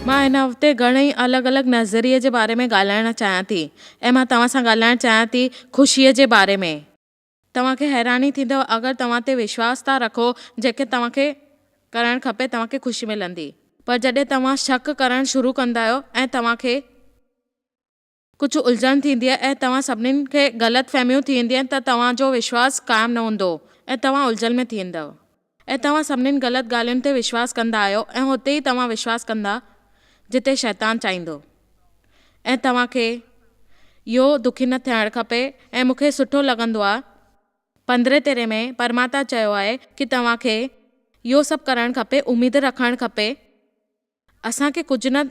مان هن هفتي گهڻي ئي الڳ الڳ نظريي جي باري ۾ ڳالهائڻ چاهيان ٿي ۽ مان توهان سان ڳالهائڻ چاهيان ٿي خوشي جي باري ۾. توهان کي حيراني ٿيندو اگر توهان تي وشواس ٿا رکو جيڪي توهان کي ڪرڻ کپي توهان کي خوشي ملندي پر جڏهن توهان شڪ ڪرڻ شروع ڪندا آهيو ۽ توهان کي. ڪجهه الجهن ٿيندي ۽ توهان سڀنين کي غلط فهميون ٿي ويندين ته توهان جو وشواس قائم نه هوندو ۽ توهان الجهن ۾ ٿي ويندؤ ۽ توهان سڀنين غلط ڳالهين تي وشواس ڪندا آهيو ۽ اتي ئي توهان وشواس ڪندا جتي شيطان چاهيندو ۽ توهان کي اهو دکي نه ٿيڻ کپي ۽ مون کي سٺو لڳندو آهي پندرهين تيرهين ۾ پرماتان چيو آهي ڪي توهان کي اهو سڀ ڪرڻ کپي اميد رکڻ کپي اسان کي ڪجهه نه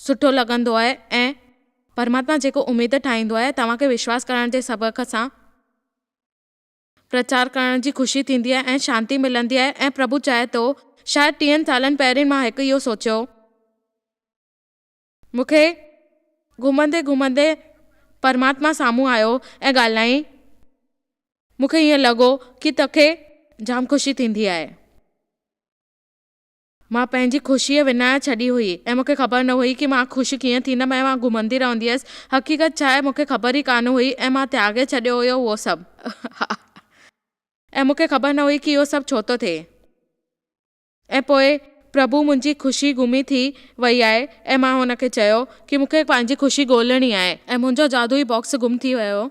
سٺو لڳندو آهي ۽ پرماتما جيڪو اميد ٺاهيندو آهي توهان کي وشواس ڪرڻ جي سبق سان پرچار ڪرڻ جي خوشي ٿيندي آهي ۽ شانتي ملندي آهي ۽ پرڀو چاهي ٿو شايد ٽيهن سالن پهرين مان هڪ اهو سوچيو مون کي گهمندي گهمندي پرماتما سامهون آيو ۽ ڳالهائين مون کي ائين لڳو ڪي تو کي جام خوشي ٿيندي آهي. مان پنهنجي خوشيء وڃائي ڇڏي هئي ۽ مون کي خبر نه هئي ته مان خوش ڪيئن ٿيندم ۽ مان گهمندي رهندي هيس. حقيقت ڇا آهي، مون کي خبر ئي ڪانه هئي ۽ مان تياڳي ڇڏيو هيو اهو سڀ. ۽ مون کي خبر نه هئي ته اهو سڀ ڇو ٿو ٿئي. ۽ پوء پرڀو منهنجي خوشي گمي ٿي وئي آهي ۽ مان هن کي چيو ته مون کي پنهنجي خوشي ڳولڻي آهي ۽ منهنجو جادوئي باڪس گم ٿي ويو هو.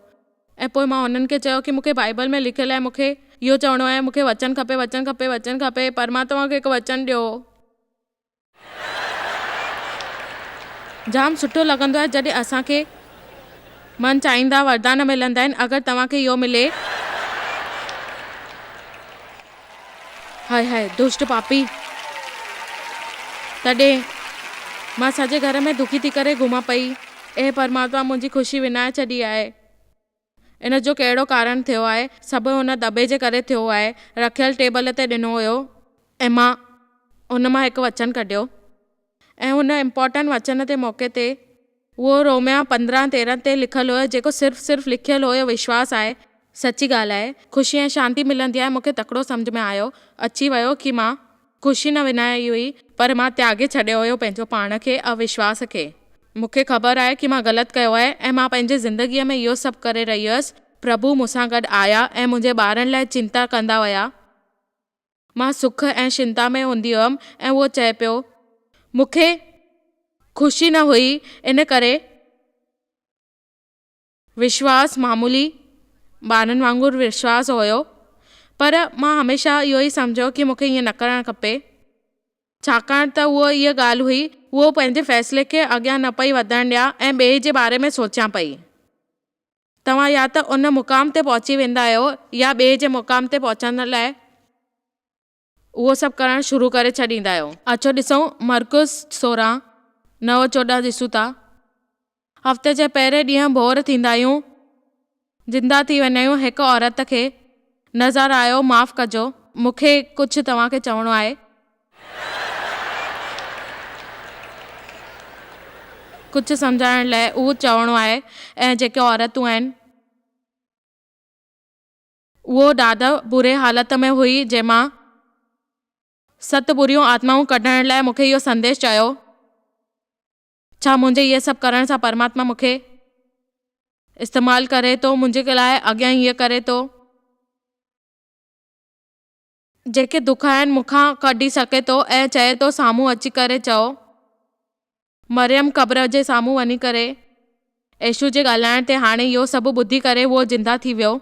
۽ پوء مان هنن کي چيو ڪي مون کي بائيبل ۾ لکيل آهي مون کي اهو چوڻو آهي مون کي وچن کپي وچن کپي وچن کپي پر مان توهان کي هڪ وچن ڏيو جام سٺو لڳندو آهي جڏهن اسان کي من چاهيندا وردان ملندا آهن اگر توهان کي اهو ملي. هاء هاء دشٽ پاپي! تڏهن مان سڄي گهر ۾ دکي ٿي ڪري گهماء پئي. اي پرماتما! منهنجي خوشي وڃائي ڇڏي آهي. ان جو ڪهڙو ڪارڻ ٿيو آهي؟ سڀ هن دٻي جي ڪري ٿيو آهي. رکيل ٽيبل تي ڏنو هيو. ۽ مان ان مان هڪ وچن ڪڍيو. ۽ هن امپارٽنٽ وچن تي موقعي تي. اهو روميا پندرهن تيرهن تي لکيل هيو جيڪو صرف صرف لکيل هيو وشواس آهي. سچي ڳالهه آهي خوشي ۽ شانتي ملندي آهي مونکي تڪڙو سمجهه ۾ آيو اچي ويو ڪي مان خوشي نه ونهائي هئي پر مان تياڳي ڇڏيو هيو پنهنجو پاڻ کي اوشواس کي مونکي خبر آهي ڪي مان غلط ڪيو آهي ۽ مان پنهنجي زندگي ۾ اهو سڀ ڪري رهي هيس پرڀو مونسان گڏ آيا ۽ منهنجي ٻارن لاء چنتا ڪندا ويا. مان سک ۽ شنتا ۾ هوندي هئم ۽ هو چئي پيو، مون کي خوشي نه هئي، ان ڪري وشواس معمولي ٻارن وانگر وشواس هيو، پر مان هميشه اهو ئي سمجهيو ڪي مون کي ائين نه ڪرڻ کپي، ڇاڪاڻ ته اهو اها ڳالهه هئي، هو پنهنجي فيصلي کي اڳيان نه پئي وڌڻ ڏيان ۽ ٻئي جي باري ۾ سوچيان پئي. توهان يا ته ان مقام تي پهچي ويندا آهيو يا ٻئي جي مقام تي پهچڻ لاء اهو سڀ ڪرڻ شروع ڪري ڇڏيندا آهيو. اچو ڏسون مرڪوس سورهن، نو چوڏهن ڏسون ٿا. هفتي جي پهرين ڏينهن ڀور ٿيندا آهيون، زنده ٿي ويندا آهيون هڪ عورت کي نظر آيو معاف ڪجو مون کي ڪجهه توهان کي چوڻو آهي. ڪجهه سمجهائڻ لاء اهو چوڻو آهي ۽ جيڪي عورتون آهن. اهو ڏاڌا بري حالت ۾ هئي جنهن مان ست بريون آتمائون ڪڍڻ لاء مونکي اهو سنديش چيو. ڇا منهنجي هيء سڀ ڪرڻ سان پرماتما مونکي استعمال ڪري ٿو منهنجي لاء اڳيان هيء ڪري ٿو. جيڪي دک آهن مون کان ڪڍي سگهي ٿو ۽ چئي ٿو سامهون اچي ڪري چئو. مريم قبر جي سامهون وڃي ڪري عيشو جي ڳالهائڻ تي هاڻي اهو سڀ ٻڌي ڪري هو زنده ٿي ويو.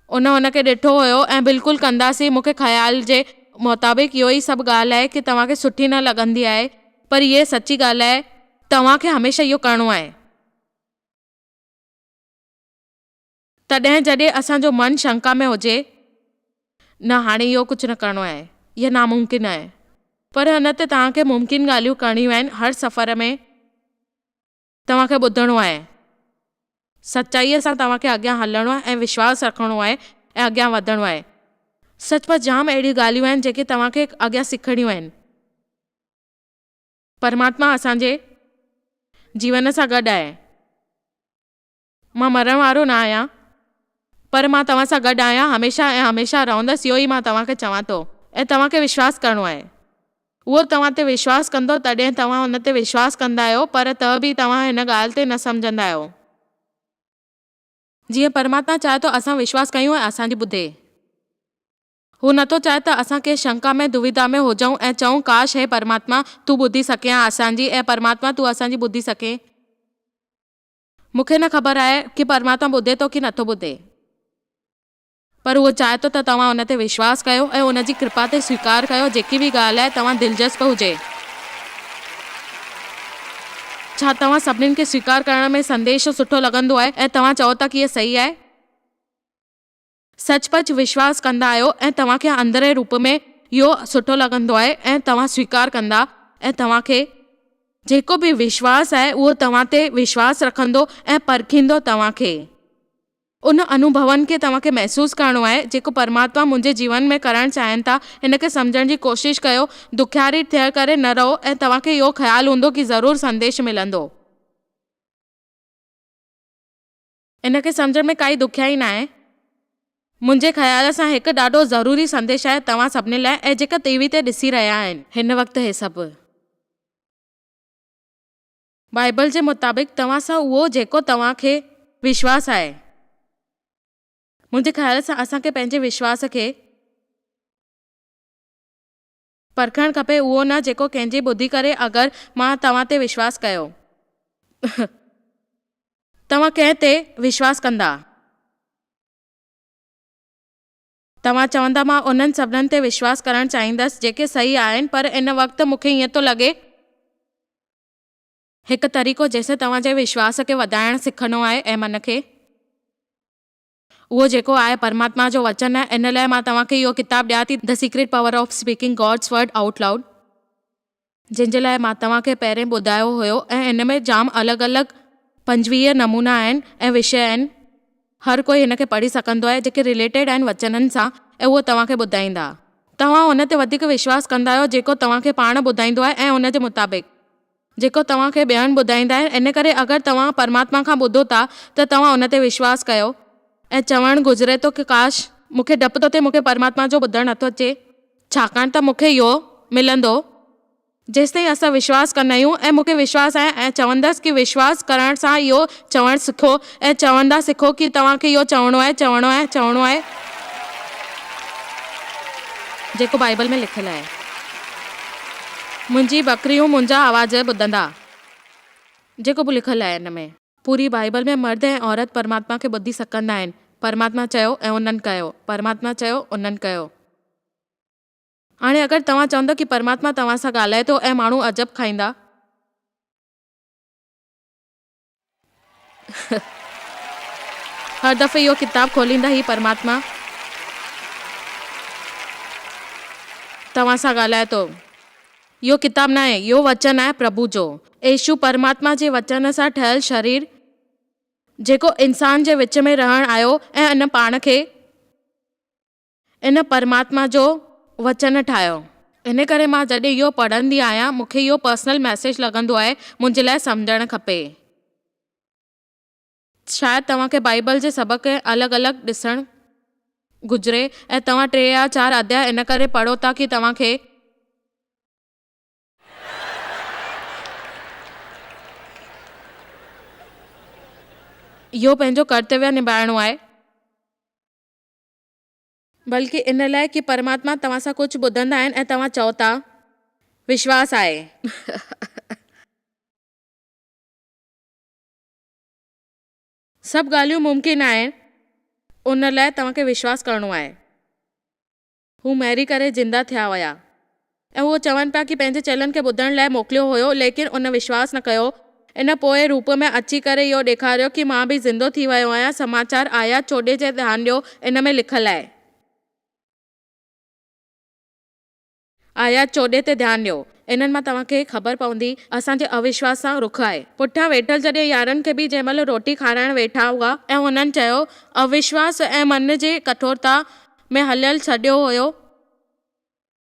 ان هن کي ڏٺو هيو ۽ بلڪل ڪنداسين مون کي خيال جي مطابق اهو ئي سڀ ڳالهه آهي ڪي توهان کي سٺي نه لڳندي آهي پر هيء سچي ڳالهه آهي توهان کي هميشه اهو ڪرڻو آهي. تڏهن جڏهن اسان جو من شنڪا ۾ هجي، نه هاڻي اهو ڪجهه نه ڪرڻو آهي، اهو ناممڪن آهي، پر هن ته توهان کي ممڪن ڳالهيون ڪرڻيون آهن هر سفر ۾ توهان کي ٻڌڻو آهي، سچائيء سان توهان کي اڳيان هلڻو آهي ۽ وشواس رکڻو آهي ۽ اڳيان وڌڻو آهي، سچ پچ جام اهڙيون ڳالهيون آهن جيڪي توهان کي اڳيان سکڻيون آهن. پرماتما اسان جي جيون سان گڏ آهي. مان مرڻ وارو نه آهيان، پر مان توهان سان گڏ آهيان، هميشه ۽ هميشه رهندس، اهو ئي مان توهان کي چوان ٿو ۽ توهان کي وشواس ڪرڻو آهي. اهو توهان تي وشواس ڪندو، تڏهن توهان ان تي وشواس ڪندا آهيو، پر ته به توهان هن ڳالهه تي نه سمجهندا آهيو. جيئن پرماتما چاهي ٿو اسان وشواس ڪيون ۽ اسان جي ٻڌي. هو نه ٿو چاهي ته اسان ڪنهن شنڪا ۾ دويڌا ۾ هجون ۽ چئون، ڪاش هي پرماتما، تون ٻڌي سگهين ها اسان جي، اي پرماتما، تون اسان جي ٻڌي سگهين. مون کي نه خبر آهي ڪي پرماتما ٻڌي ٿو ڪي نٿو ٻڌي پر هو چاهي ٿو ته توهان ان تي وشواس ڪيو ۽ ان جي ڪرپا تي سويڪار ڪيو جيڪي به ڳالهه آهي توهان دلجسپ هجي ڇا توهان سڀنين کي سويڪار ڪرڻ ۾ سنديش سٺو لڳندو آهي ۽ توهان چئو ٿا ڪي هي صحيح آهي. سچ پچ وشواس ڪندا آهيو ۽ توهان کي اندرئين روپ ۾ اهو سٺو لڳندو آهي ۽ توهان سويڪار ڪندا ۽ توهان کي جيڪو به وشواس آهي اهو توهان تي وشواس رکندو ۽ پرکيندو توهان کي ان انوڀون کي توهان کي محسوس ڪرڻو آهي جيڪو پرماتما منهنجي جيون ۾ ڪرڻ چاهين ٿا ان کي سمجهڻ جي ڪوشش ڪيو دکياري ٿيڻ ڪري نه رهو ۽ توهان کي اهو خيال هوندو ڪي ضرور سنديش ملندو. ان کي سمجهڻ ۾ ڪائي ڏکيائي ناهي. منهنجي خيال سان هڪ ڏاڍو ضروري سنديش آهي توهان سڀني لاء ۽ جيڪي ٽي وي تي ڏسي رهيا آهن هن وقت هي سڀ. بائيبل جي مطابق توهان سان اهو جيڪو توهان کي. وشواس آهي. منهنجي خيال سان اسان کي پنهنجي وشواس کي. پرکڻ کپي اهو نه جيڪو ڪنهن جي ٻڌي ڪري اگر مان توهان تي وشواس ڪيو ته توهان ڪنهن تي وشواس ڪندا؟ توهان چوندا مان انهن سڀنن تي وشواس ڪرڻ چاهيندس جيڪي صحيح آهن پر ان وقت مون کي ائين ٿو لڳي. هڪ طريقو جنهن سان توهان جي وشواس کي وڌائڻ سکڻو آهي ۽ من کي. اهو جيڪو آهي پرماتما جو وچن آهي ان لاء مان توهان کي اهو ڪتاب ڏيان ٿي The Secret Power of Speaking God's Word Out Loud جنهن جي لاء مان توهان کي پهرين ٻڌايو هيو ۽ ان ۾ جام الڳ الڳ پنجويهه نمونا آهن ۽ وشي آهن هر ڪوئي هن کي پڙهي سگهندو آهي جيڪي رليٽيڊ آهن وچنن سان ۽ اهو توهان کي ٻڌائيندا توهان ان تي وڌيڪ وشواس ڪندا آهيو جيڪو توهان کي پاڻ ٻڌائيندو آهي ۽ ان جي مطابق جيڪو توهان کي ٻين ٻڌائيندا آهن، ان ڪري اگر توهان پرماتما کان ٻڌو ٿا ته توهان ان تي وشواس ڪيو. ائين چوڻ گذري ٿو ته ڪاش! مون کي ڊپ ٿو ٿئي مون کي پرماتما جو ٻڌڻ نٿو اچي. ڇاڪاڻ ته مون کي اهو ملندو. جيستائين اسان وشواس ڪندا آهيون ۽ مون کي وشواس آهي ۽ چوندس ڪي وشواس ڪرڻ سان اهو چوڻ سکو ۽ چوندا سکو ڪي توهان کي اهو چوڻو آهي، چوڻو آهي، چوڻو آهي، جيڪو بائيبل ۾ لکيل آهي، منهنجي ٻڪريون منهنجا آواز ٻڌندا، جيڪو به لکيل آهي ان ۾. پوري بائيبل ۾ مرد ۽ عورت پرماتما کي ٻڌي سگهندا آهن، پرماتما چيو ۽ انهن ڪيو، پرماتما چيو، انهن ڪيو. هاڻي اگر توهان چوندو ڪي پرماتما توهان سان ڳالهائي ٿو ۽ ماڻهو عجب کائيندا. هر دفعي اهو ڪتاب کوليندا هي پرماتما توهان سان ڳالهائي ٿو. اهو ڪتاب ناهي، اهو وچن آهي پرڀو جو. يسوع پرماتما جي وچن سان ٺهيل شرير جيڪو انسان جي وچ ۾ رهڻ آيو ۽ ان پاڻ کي ان پرماتما جو وچن ٺاهيو. ان ڪري مان جڏهن اهو پڙهندي آهيان مون کي اهو پرسنل ميسيج لڳندو آهي منهنجي لاء سمجهڻ کپي. شايد توهان کي بائيبل جي سڀ کي الڳ الڳ ڏسڻ گهجري ۽ توهان ٽي يا چار اڌيا ان ڪري پڙهو ٿا ڪي توهان کي اهو پنهنجو ڪرتويه نڀائڻو آهي. بلڪ ان لاء ڪي پرماتما توهان سان ڪجهه ٻڌندا آهن ۽ توهان چئو ٿا وشواس آهي. سڀ ڳالهيون ممڪن آهن ان لاء توهان کي وشواس ڪرڻو آهي. هو ميري ڪري زنده ٿيا هيا. ۽ هو چون پيا ڪي پنهنجي چيلن کي ٻڌڻ لاء موڪليو هيو، ليڪن ان وشواس نه ڪيو. ان پوء روپ ۾ اچي ڪري اهو ڏيکاريو ڪي مان به زندو ٿي ويو آهيان. سماچار آيات چوڏهين جي ڌيان ڏيو، ان ۾ لکل آهي. آيات چوڏهين تي ڌيان ڏيو، انهن مان توهان کي خبر پوندي اسان جي اوشواس سان رخ آهي. پٺيان ويٺل جڏهن يارن کي به جنهن مهل روٽي کارائڻ ويٺا هئا ۽ هنن چيو، اوشواس ۽ من جي ڪٺورتا ۾ هليل سڏيو هيو،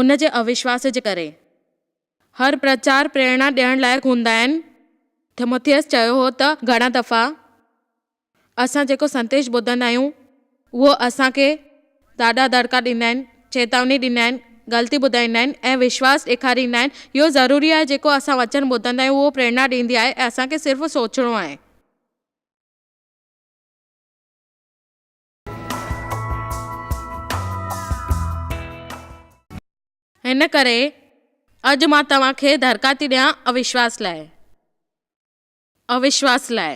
ان جي اوشواس جي ڪري، هر پرچار پريرڻا ڏيڻ لائق هوندا آهن. ٿيموٿيئس چيو هو ته گهڻا دفعا اسان جيڪو سنديش ٻڌندا آهيون، اهو اسان کي ڏاڍا دڙڪا ڏيندا آهن، چيتاوني ڏيندا آهن، غلطي ٻڌائيندا آهن ۽ وشواس ڏيکاريندا آهن. اهو ضروري آهي جيڪو اسان وچن ٻڌندا آهيون، اهو پريرڻا ڏيندي آهي ۽ اسان کي صرف سوچڻو آهي. ان ڪري اڄ مان توهان کي دڙڪا ٿي ڏيان اوشواس لاء. اوشواس لاء.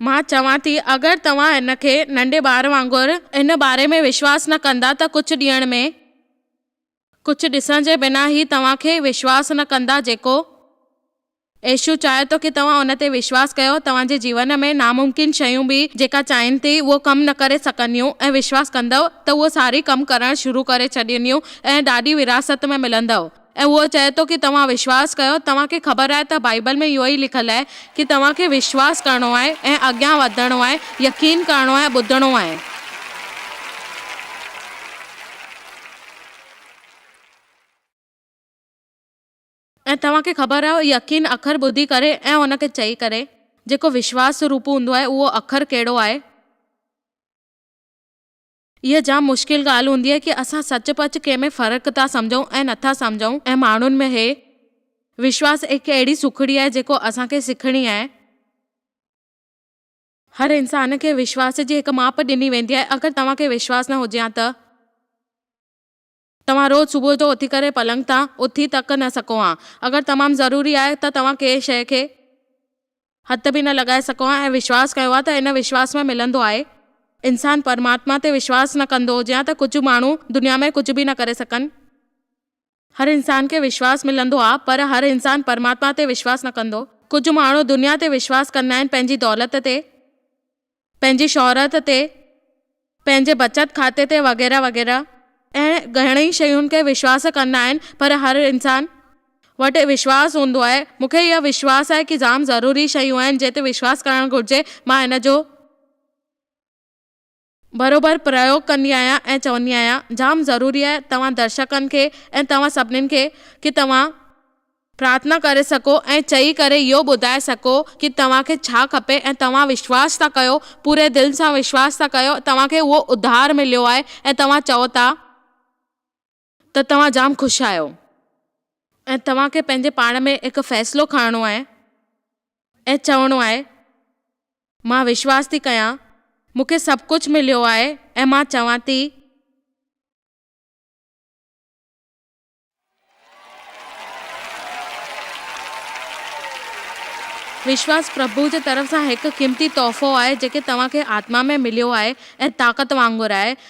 مان چوان ٿي اگر توهان ان کي ننڍي ٻار وانگر ان باري ۾ وشواس نه ڪندا ته ڪجهه ڏينهن ۾ ڪجهه ڏسڻ جي بنا هي توهان کي وشواس نه ڪندا جيڪو ايشو چاهي ٿو ڪي توهان ان تي وشواس ڪيو توهان جي جيون ۾ ناممڪن شيون به جيڪا چاهين ٿي اهو ڪم نه ڪري سگهنديون ۽ وشواس ڪندؤ ته اهو ساري ڪم ڪرڻ شروع ڪري ڇڏينديون ۽ ڏاڏي ورهاست ۾ ملندؤ ۽ اهو چئي ٿو ڪي توهان وشواس ڪيو توهان کي خبر آهي ته بائيبل ۾ اهو ئي لکيل آهي ڪي توهان کي وشواس ڪرڻو آهي ۽ اڳيان وڌڻو آهي يقين ڪرڻو آهي ٻڌڻو آهي. ۽ توهان کي خبر آهي اهو يقين اکر ٻڌي ڪري ۽ ان کي چئي ڪري، جيڪو وشواس روپ هوندو آهي، اهو اکر ڪهڙو آهي؟ اها جام مشڪل ڳالهه هوندي آهي ڪي اسان سچ پچ ڪنهن ۾ فرق ٿا سمجهون ۽ نه ٿا سمجهون ۽ ماڻهن ۾ هي وشواس هڪ اهڙي سکڙي آهي جيڪو اسان کي سکڻي آهي. هر انسان کي وشواس جي هڪ ماپ ڏني ويندي آهي اگر توهان کي وشواس نه هجي ها ته توهان روز صبح جو اٿي ڪري پلنگ تان اٿي تڪ نه سگهو ها اگر تمام ضروري آهي ته توهان ڪنهن شيء کي هٿ به نه لڳائي سگهو ها ۽ وشواس ڪيو ها ته ان وشواس ۾ ملندو آهي. انسان پرماتما تي وشواس نه ڪندو هجي ها ته ڪجهه ماڻهو دنيا ۾ ڪجهه به نه ڪري سگهن. هر انسان کي وشواس ملندو آ پر هر انسان پرماتما تي وشواس نه ڪندو. ڪجهه ماڻهو دنيا تي وشواس ڪندا آهن پنهنجي دولت تي، پنهنجي شهرت تي، پنهنجي بچت کاتي تي وغيره وغيره. اهڙين گهڻين شين کي وشواس ڪندا آهن پر هر انسان وٽ وشواس هوندو آهي. مون کي اهو وشواس آهي ڪي جام ضروري شيون آهن جنهن تي وشواس ڪرڻ گهرجي مان هن جو. برابر پريوگ ڪندي آهيان ۽ چوندي آهيان جام ضروري آهي توهان درشڪن کي ۽ توهان سڀنين کي ڪي توهان پرارٿنا ڪري سگهو ۽ چئي ڪري اهو ٻڌائي سگهو ڪي توهان کي ڇا کپي ۽ توهان وشواس ٿا ڪيو پوري دل سان وشواس ٿا ڪيو توهان کي اهو اڌار مليو آهي ۽ توهان چئو ٿا. ته توهان جام خوش آهيو ۽ توهان کي پنهنجي پاڻ ۾ هڪ فيصلو کڻڻو آهي ۽ چوڻو آهي مان وشواس ٿي ڪيان مون کي سڀ ڪجهه مليو آهي ۽ مان چوان ٿي وشواس پرڀو جي طرف سان هڪ قيمتي تحفو آهي جيڪي توهان کي آتما ۾ مليو آهي ۽ طاقت وانگر آهي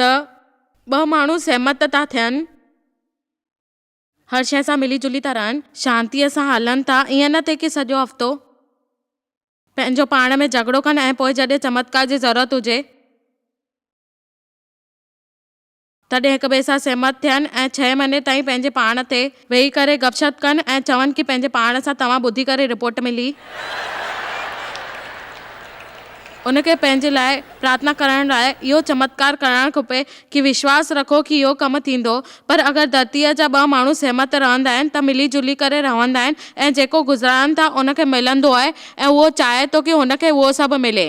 ته ٻه ماڻهو سهمت ٿا ٿين، هر شيء سان ملي جلي ٿا رهن، شانتيء سان هلن ٿا، ائين نه ٿئي ڪي سڄو هفتو پنهنجو پاڻ ۾ جهڳڙو ڪن ۽ پوء جڏهن چمتڪار جي ضرورت هجي، تڏهن هڪٻئي سان سهمت ٿين ۽ ڇهين مهيني تائين پنهنجي پاڻ تي ويهي ڪري گپ شپ ڪن ۽ چون ڪي پنهنجي پاڻ سان توهان ٻڌي ڪري رپورٽ ملي ان کي پنهنجي لاء پرارٿنا ڪرڻ لاء اهو چمتڪار ڪرڻ کپي ڪي وشواس رکو ڪي اهو ڪم ٿيندو پر اگر ڌرتي جا ٻه ماڻهو سهمت رهندا آهن ته ملي جلي ڪري رهندا آهن ۽ جيڪو گذرائن ٿا ان کي ملندو آهي ۽ اهو چاهي ٿو ڪي هن کي اهو سڀ ملي.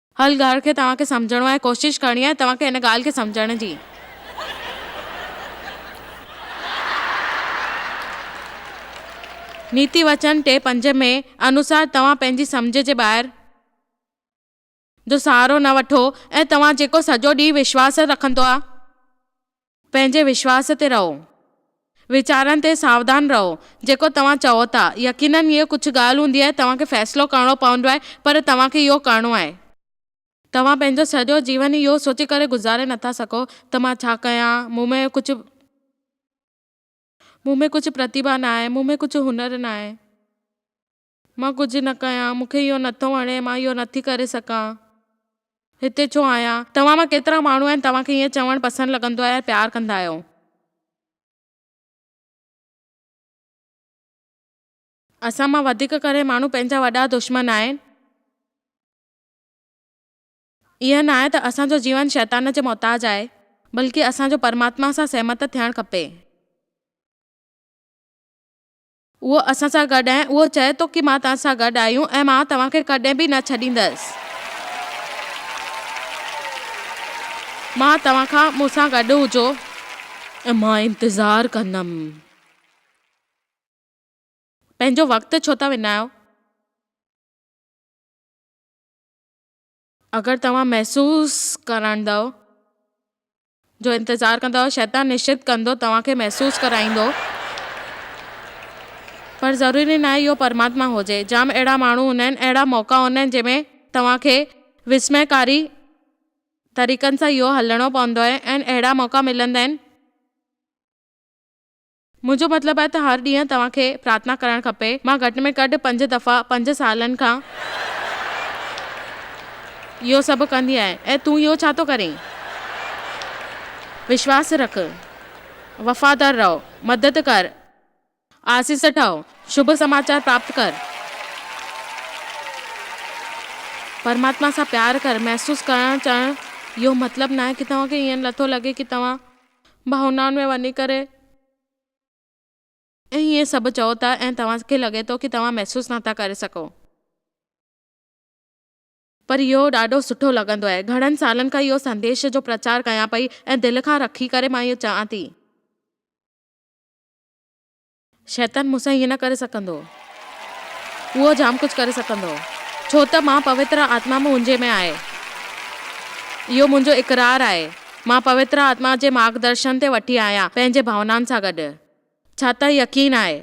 هر ڳالهه کي توهان کي سمجهڻو آهي، ڪوشش ڪرڻي آهي توهان کي ان ڳالهه کي سمجهڻ جي. نيتي وچن ٽي پنج ۾ انوسار توهان پنهنجي سمجهه جي ٻاهر جو سهارو نه وٺو ۽ توهان جيڪو سڄو ڏينهن وشواس رکندو آهي، پنهنجي وشواس تي رهو. ويچارن تي ساودان رهو جيڪو توهان چئو ٿا. يقينن هيء ڪجهه ڳالهه هوندي آهي توهان کي فيصلو ڪرڻو پوندو آهي پر توهان کي اهو ڪرڻو آهي. توهان پنهنجو سڄو جيون اهو سوچي ڪري گذاري نٿا سگهو ته مان ڇا ڪيان، مون ۾ ڪجهه مون ۾ ڪجهه پرتيڀا نه آهي، مون ۾ ڪجهه هنر نه آهي. مان ڪجهه نه ڪيان، مون کي اهو نه ٿو وڻي، مان اهو نه ٿي ڪري سگهان، هتي ڇو آهيان؟ توهان مان ڪيترا ماڻهو آهن توهان کي ائين چوڻ پسند لڳندو آهي ۽ پيار ڪندا آهيو؟ اسان مان وڌيڪ ڪري ماڻهو پنهنجا وڏا دشمن آهن. ائين ناهي ته اسان جو جيون شيطان جي محتاج آهي، بلڪه اسان جو پرماتما سان سهمت ٿيڻ کپي. اهو اسان سان گڏ ۽ اهو چئي ٿو ڪي مان توهان سان گڏ آهيون ۽ مان توهان کي ڪڏهن به نه ڇڏيندس. مان توهان کان مون سان گڏ هجو ۽ مان انتظار ڪندم. پنهنجو وقت ڇو ٿا وڃايو؟ اگر توهان محسوس ڪرندؤ جو انتظار ڪندؤ، شيطان نشچت ڪندو توهان کي محسوس ڪرائيندو، پر ضروري ناهي اهو پرماتما هجي. جام اهڙا ماڻهو هوندا آهن، اهڙا موقعا هوندا آهن جنهن ۾ توهان کي وسميڪاري طريقن سان اهو هلڻو پوندو آهي ۽ اهڙا موقعا ملندا آهن، منهنجو مطلب آهي ته هر ڏينهن توهان کي پرارٿنا ڪرڻ کپي. مان گهٽ ۾ گهٽ پنج دفعا پنج سالن کان اهو سڀ ڪندي آهيان ۽ تون اهو ڇا ٿو ڪرين؟ وشواس رک، وفادار رهو، مدد ڪر، آسيس ٺاهه، شڀ سماچار پراپت ڪر، پرماتما سان پيار ڪر، محسوس ڪرڻ چوڻ اهو مطلب ناهي ته توهان کي ائين نٿو لڳي ته توهان ڀاونائن ۾ وڃي ڪري. ۽ اهي سڀ چئو ٿا ۽ توهان کي لڳي ٿو ڪي توهان محسوس نه ٿا ڪري سگهو. پر اهو ڏاڍو سٺو لڳندو آهي. گهڻن سالن کان اهو سنديش جو پرچار ڪيان پئي ۽ دل کان رکي ڪري مان اهو چئان ٿي. شيطان مون سان ائين نه ڪري سگهندو. اهو جام ڪجهه ڪري سگهندو، ڇو ته مان پوتر آتما منهنجي ۾ آهي. اهو منهنجو اقرار آهي. مان پوتر آتما جي مارگدرشن تي وٺي آهيان، پنهنجي ڀاونائن سان گڏ. ڇا ته يقين آهي.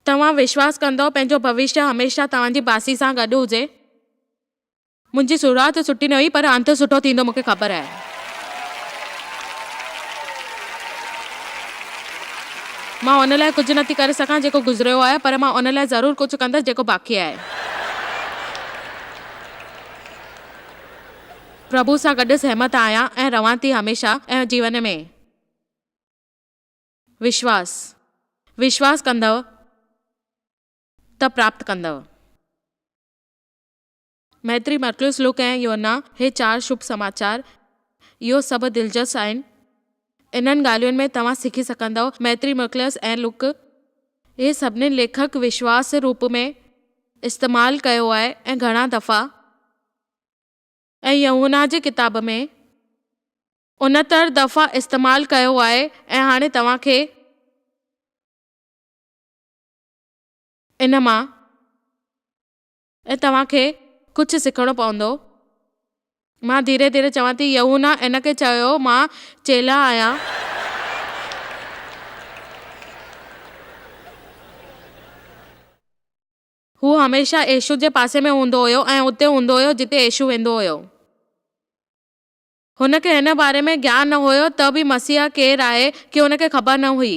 توهان وشواس ڪندؤ پنهنجو ڀوشيه هميشه توهان جي باصي سان گڏ هجي؟ منهنجي شروعات سٺي نه هئي پر انت سٺو ٿيندو مون کي خبر آهي. مان ان لاء ڪجهه نه ٿي ڪري سگهان جيڪو گذريو آهي پر مان ان لاء ضرور ڪجهه ڪندس جيڪو باقي آهي. پرڀو سان گڏ سهمت آهيان ۽ رهان ٿي هميشه ۽ جيون ۾ وشواس وشواس ڪندؤ ته پراپت ڪندؤ. ميتري، مرڪيوس، لوڪ ۽ يوحنا، هي چار شڀ سماچار، اهو سڀ دلچسپ آهن. انهن ڳالهين ۾ توهان سکي سگهندؤ. ميتري، مرڪيوس ۽ لوڪ، اهي سڀني ليکڪ وشواس روپ ۾ استعمال ڪيو آهي ۽ گهڻا دفعا، ۽ يوحنا جي ڪتاب ۾ انهتر دفعا استعمال ڪيو آهي ۽ هاڻي توهان کي ان مان ۽ توهان کي ڪجهه سکڻو پوندو. مان ڌيري ڌيري چوان ٿي، يحونا ان کي چيو، مان چيلهه آهيان. هو هميشه يسوع جي پاسي ۾ هوندو هيو ۽ اتي هوندو هيو جتي يسوع ويندو هيو. هن کي هن باري ۾ گيان نه هيو ته به مسيح ڪير آهي، ڪي هن کي خبر نه هئي.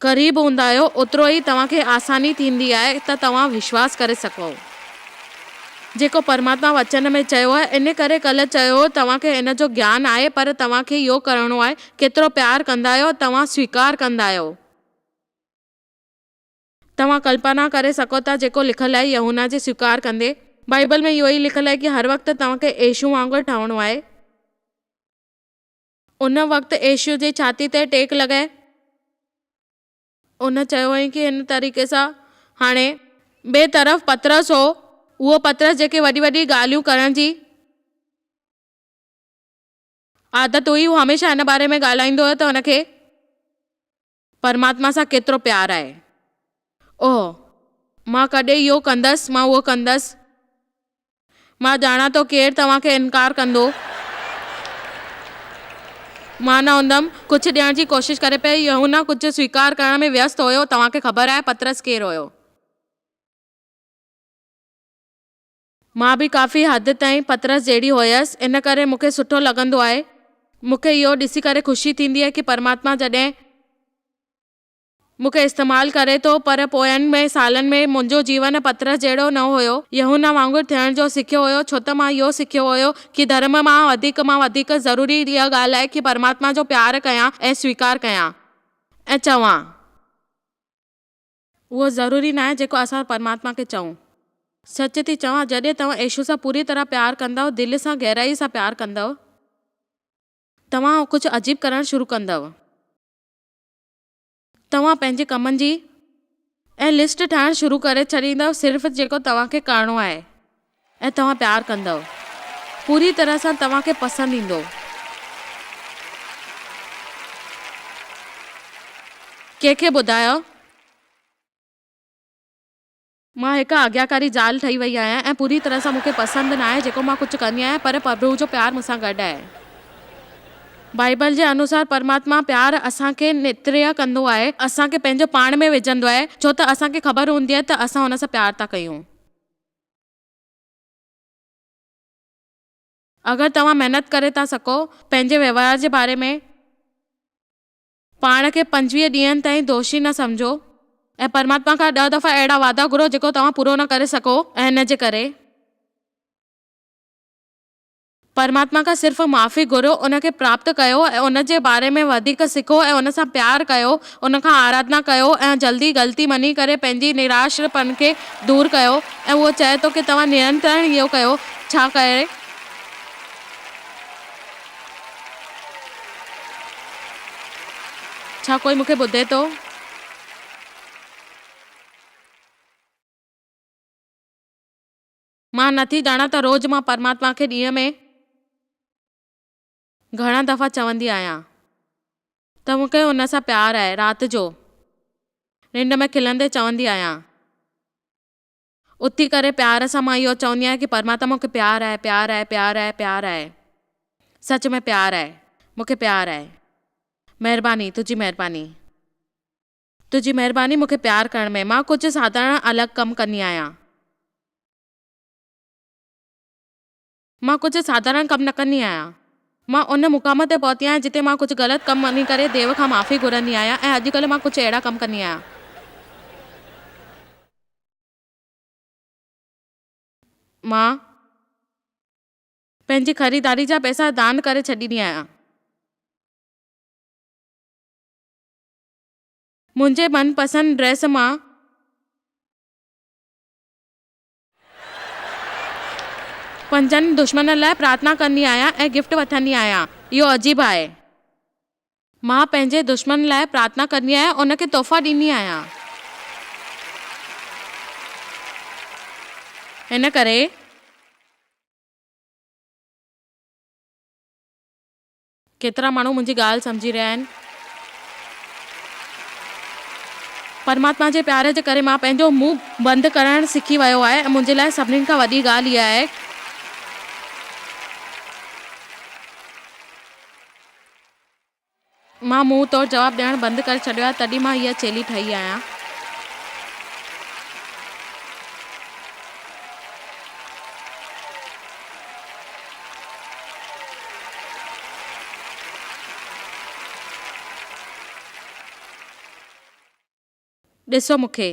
قريب هوندا آهيو اوترو ئي توهان کي آساني ٿيندي آهي ته توهان وشواس ڪري سگهو جيڪو پرماتما وچن ۾ چيو آهي ان ڪري ڪلهه چيو هو توهان کي ان جو گيان آهي پر توهان کي اهو ڪرڻو آهي ڪيترو پيار ڪندا آهيو توهان سويڪار ڪندا آهيو. توهان ڪلپنا ڪري سگهو ٿا جيڪو لکيل آهي يهونا جي سويڪار ڪندي. بائيبل ۾ اهو ئي لکيل آهي ڪي هر وقت توهان کي يسوع وانگر ٺهڻو آهي. ان وقت عيشو جي ڇاتي تي ٽيڪ لڳائي هن چيو هئائين ڪي هن طريقي سان هاڻي. ٻئي طرف پطرس هو، اهو پطرس جنهن کي وڏي وڏي ڳالهيون ڪرڻ جي عادت هئي، هو هميشه هن باري ۾ ڳالهائيندو هو ته هن کي. پرماتما سان ڪيترو پيار آهي. اوه، مان ڪڏهن اهو ڪندس، مان اهو ڪندس. مان ڄاڻان ٿو ڪير توهان کي انڪار ڪندو. مان نه هوندم. ڪجهه ڏيڻ جي ڪوشش ڪري پئي. يوحنا ڪجهه سويڪار ڪرڻ ۾ ويست هيو. توهان کي خبر آهي پطرس ڪير هيو. مان به ڪافي حد تائين پطرس جهڙي هيس، ان ڪري مون کي سٺو لڳندو آهي. مون کي اهو ڏسي ڪري خوشي ٿيندي آهي ڪي پرماتما جڏهن مون کي استعمال ڪري ٿو، پر پوين ٻئي سالن ۾ منهنجو جيون پطرس جهڙو نه هيو. يحنه وانگر ٿيڻ جو سکيو هيو، ڇو ته مان اهو سکيو هيو ڪي ڌرم مان وڌيڪ مان وڌيڪ ضروري اها ڳالهه آهي ڪي پرماتما جو پيار ڪيان ۽ سويڪار ڪيان ۽ چوان. اهو ضروري ناهي جيڪو اسان پرماتما کي چئون. سچ ٿي چوان جڏهن توهان يسوع سان پوري طرح پيار ڪندؤ، دل سان گهرائي سان پيار ڪندؤ، توهان ڪجهه عجيب ڪرڻ شروع ڪندؤ. توهان پنهنجي ڪمن جي اها لسٽ ٺاهڻ شروع ڪري ڇڏيندؤ صرف جيڪو توهان کي ڪرڻو آهي. ۽ توهان پيار ڪندؤ پوري طرح سان توهان کي پسند ايندو ڪنهن کي ٻڌايو. مان هڪ آجياڪاري زال ٺهي وئي آهيان ۽ پوري طرح سان مون کي پسند ناهي جيڪو مان ڪجهه ڪندي آهيان پر پرڀو جو پيار مون سان گڏ آهي بائيبل جي انوسار پرماتما پيار اسان کي نتريه ڪندو آهي اسان کي پنهنجو پاڻ ۾ وجهندو آهي ڇو ته اسان کي خبر هوندي آهي ته اسان هن سان پيار ٿا ڪيون. اگر توهان محنت ڪري ٿا سگهو، پنهنجي وهنوار جي باري ۾ پاڻ کي پنجويهه ڏينهن تائين دوشي نه سمجهو ۽ پرماتما کان ڏهه دفعا اهڙا وعدا گهرو جيڪو توهان پورو نه ڪري سگهو ۽ ان جي ڪري. پرماتما کان صرف معافي گهريو، ان کي پراپت ڪيو ۽ ان جي باري ۾ وڌيڪ سکو ۽ ان سان پيار ڪيو، ان کان آراڌنا ڪيو ۽ جلدي غلطي مڃي ڪري پنهنجي نراشرپن کي دور ڪيو ۽ اهو چئي ٿو ڪي توهان نرنتر اهو ڪيو ڇا ڪري؟ ڇا ڪوئي مون کي ٻڌي ٿو؟ مان نه ٿي ڄاڻان ته روز مان پرماتما کي ڏينهن ۾ گهڻا دفعا چوندي آهيان ته مون کي هن سان پيار آهي رات جو ننڊ ۾ کلندي چوندي آهيان اٿي ڪري پيار سان مان اهو چوندي آهيان ڪي پرماتما مون کي پيار آهي پيار آهي پيار آهي پيار آهي سچ ۾ پيار آهي مون کي پيار آهي مهرباني تنهنجي مهرباني. تنهنجي مهرباني مون کي پيار ڪرڻ ۾. مان ڪجهه ساڌارڻ الڳ ڪم ڪندي آهيان. مان ڪجهه ساڌارڻ ڪم نه ڪندي آهيان. مان ان مقام تي پهتي آهيان جتي مان ڪجهه غلط ڪم وڃي ڪري ديو کان معافي گهرندي آهيان ۽ اڄ ڪلهه مان ڪجهه اهڙا ڪم ڪندي آهيان. مان پنهنجي خريداري جا پئسا دان ڪري ڇڏيندي آهيان. منهنجي من پسند ڊريس مان. پنهنجن دشمنن لاء پرارٿنا ڪندي آهيان ۽ گفٽ وٺندي آهيان. اهو عجيب آهي. مان پنهنجي دشمنن لاء پرارٿنا ڪندي آهيان ۽ ان کي تحفا ڏيندي آهيان. ان ڪري. ڪيترا ماڻهو منهنجي ڳالهه سمجهي رهيا آهن. پرماتما جي پيار جي ڪري مان پنهنجو منهن بند ڪرڻ سکي ويو آهي ۽ منهنجي لاء سڀني کان وڏي ڳالهه اها آهي ته مان منهن تور جواب ڏيڻ بند ڪري ڇڏيو آهي تڏهن مان اها چيلي ٺهي آهيان. ڏسو مون کي.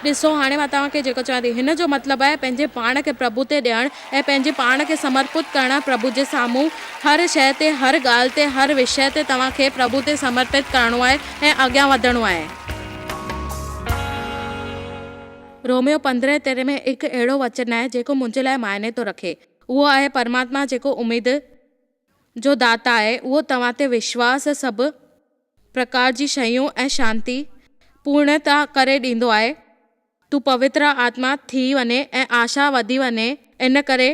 ڏسو هاڻي مان توهان کي جيڪو چوان ٿي، هن جو مطلب آهي پنهنجي پاڻ کي پرڀو تي ڏيڻ ۽ پنهنجي پاڻ کي سمرپت ڪرڻ پرڀو جي سامهون. هر شيء تي، هر ڳالهه تي، هر وشيه تي توهان کي پرڀو تي سمرپت ڪرڻو آهي ۽ اڳيان وڌڻو آهي. روميو پندرهين ترين ۾ هڪ اهڙو وچن آهي جيڪو منهنجي لاء معني ٿو رکي. اهو آهي پرماتما جيڪو اميد جو داتا آهي اهو توهان تي وشواس سڀ پرڪار جي شيون ۽ شانتي پورڻتا ڪري ڏيندو آهي. تون پوتر آتما ٿي وڃين ۽ آشا وڌي وڃي ان ڪري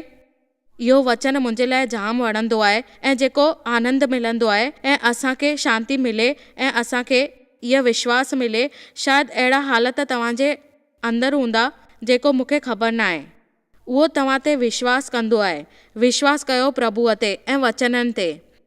اهو وچن منهنجي لاء جام وڻندو آهي ۽ جيڪو آنند ملندو آهي ۽ اسان کي شانتي ملي ۽ اسان کي اهي وشواس ملي شايد اهڙا حالت توهان جي اندر هوندا جيڪو مونکي خبر ناهي اهو توهان تي وشواس ڪندو آهي وشواس ڪيو پرڀوء تي ۽ وچنن تي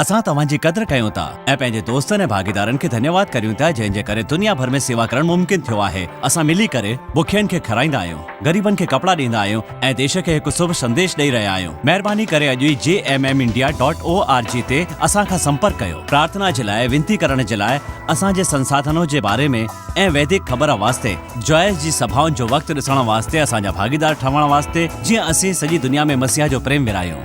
اسان توهان جي قدر ڪيون ٿا ۽ پنهنجي دوستن ۽ ڀاڳيدارن کي ڌنيواد ڪريون ٿا جنهن جي ڪري دنيا ڀر ۾ سيوا ڪرڻ ممڪن ٿيو آهي اسان ملي ڪري بکين کي کارائيندا آهيون غريبن کي ڪپڙا ڏيندا آهيون ۽ ديش کي هڪ سڀ سنديش ڏئي رهيا آهيون مهرباني ڪري اڄ ئي G M M India dot O R G تي اسان کان سمپرڪ ڪيو پرارٿنا جي لاء وينتي ڪرڻ جي لاء اسان جي سنساڌنو جي باري ۾ ۽ ويدڪ خبر واسطي جوائس جي سڀائن جو وقت ڏسڻ واسطي اسان جا ڀاڳيدار ٺهڻ واسطي جيئن اسين سڄي دنيا ۾ مسيح جو پريم ورهايون.